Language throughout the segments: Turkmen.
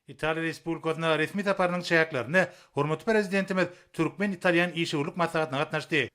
Italiýa Respublikasyna resmi saparynyň çäklerinde hormatly Prezidentimiz türkmen-italýan işewürlik maslahatyna gatnaşdy.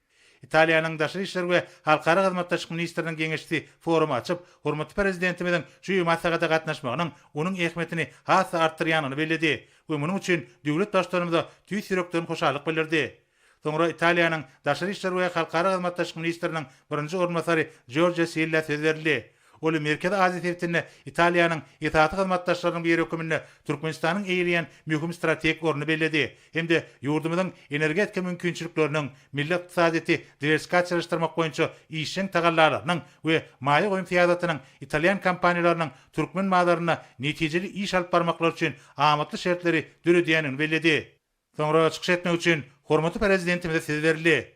Italiýanyň Daşary işler we halkara hyzmatdaşlyk ministriniň geňeşçisi forumy açyp, hormatly Prezidentimiziň şu maslahata gatnaşmagynyň onuň ähmiýetini has-da artdyrýanyny belledi we munuň üçin döwlet Baştutanymyza tüýs ýürekden hoşallyk bildirdi. Soňra Italiýanyň Daşary işler we halkara hyzmatdaşlyk ministriniň birinji orunbasary Jorja Silla söz berildi. Ol Merkezi Aziýa sebitinde Italiýanyň esasy hyzmatdaşlarynyň biri hökmünde Türkmenistanyň eýeleýän möhüm strategik ornuny belledi hem-de ýurdumyzyň energetika mümkinçilikleriniň, milli ykdysadyýeti diwersifikasiýalaşdyrmak boýunça işjeň tagallalarynyň we maýa goýum syýasatynyň italýan kompaniýalarynyň türkmen bazarynda netijeli iş alyp barmaklary üçin amatly şertleri döredýändigini belledi. Soňra çykyş etmek üçin hormatly Prezidentimize söz berildi.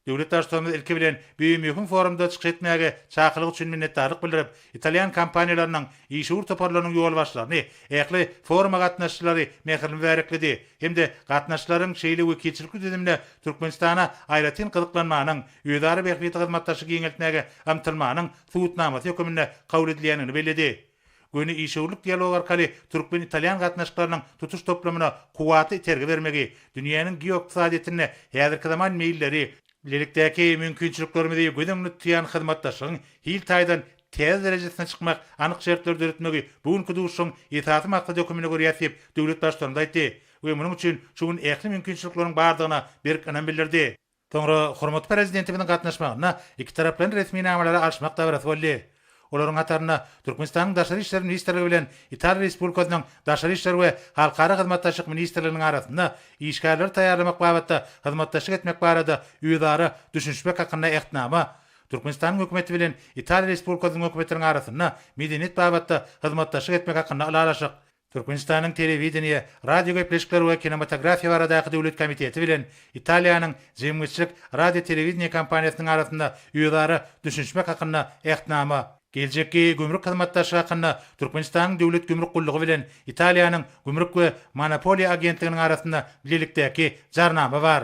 Döwlet Baştutanymyz ilki bilen bu möhüm forumda çykyş etmäge çakylyk üçin minnetdarlyk bildirip, italýan kompaniýalarynyň işewür toparlarynyň ýolbaşçylaryny, ähli foruma gatnaşyjylary mähirli mübärekledi hem-de gatnaşyjylaryň şeýle wekilçilikli düzümde Türkmenistana aýratyn gyzyklanmanyň, özara bähbitli hyzmatdaşlygy giňeltmäge ymtylmanyň subutnamasy höküminde kabul edilýändigini belledi. Göni işewürlik dialogy arkaly türkmen-italýan gatnaşyklarynyň tutuş toplumyna kuwwatly itergi bermegi, dünýäniň geoykdysadyýetinde häzirki zaman meýilleri, bilelikdäki mümkinçiliklerimizi göz öňünde tutýan hyzmatdaşlygyň hil taýdan täze derejesine çykmak anyk şertleri döretmegi bu günki duşuşygyň esasy maksady höküminde görýäs diýip, döwlet Baştutanymyz aýtdy we munuň üçin şu gün ähli mümkinçilikleriň bardygyna berk ynam bildirdi. Soňra hormatly Prezidentimiziň gatnaşmagynda ikitaraplaýyn resminamalary alşmak dabarasy boldy. Olaryň hatarynda Türkmenistanyň Daşary işler ministrligi bilen Italiýa Respublikasynyň Daşary işler we halkara hyzmatdaşlyk ministrliginiň arasynda işgärleri taýýarlamak babatda hyzmatdaşlyk etmek barada özara düşünişmek hakynda Ähtnama, Türkmenistanyň Hökümeti bilen Italiýa Respublikasynyň Hökümetiniň arasynda medeniýet babatda hyzmatdaşlyk etmek hakynda Ylalaşyk, Türkmenistanyň Telewideniýe, radiogepleşikler we kinematografiýa baradaky döwlet komiteti bilen Italiýanyň Jemgyýetçilik radiotelewidenýe kompaniýasynyň arasynda özara düşünişmek hakynda Ähtnama, Geljekki gümrük hyzmatdaşlygy hakynda Türkmenistanyň Döwlet gümrük gullugy bilen Italiýanyň Gümrük we monopoliýa agentliginiň arasynda bilelikdäki Jarnama bar.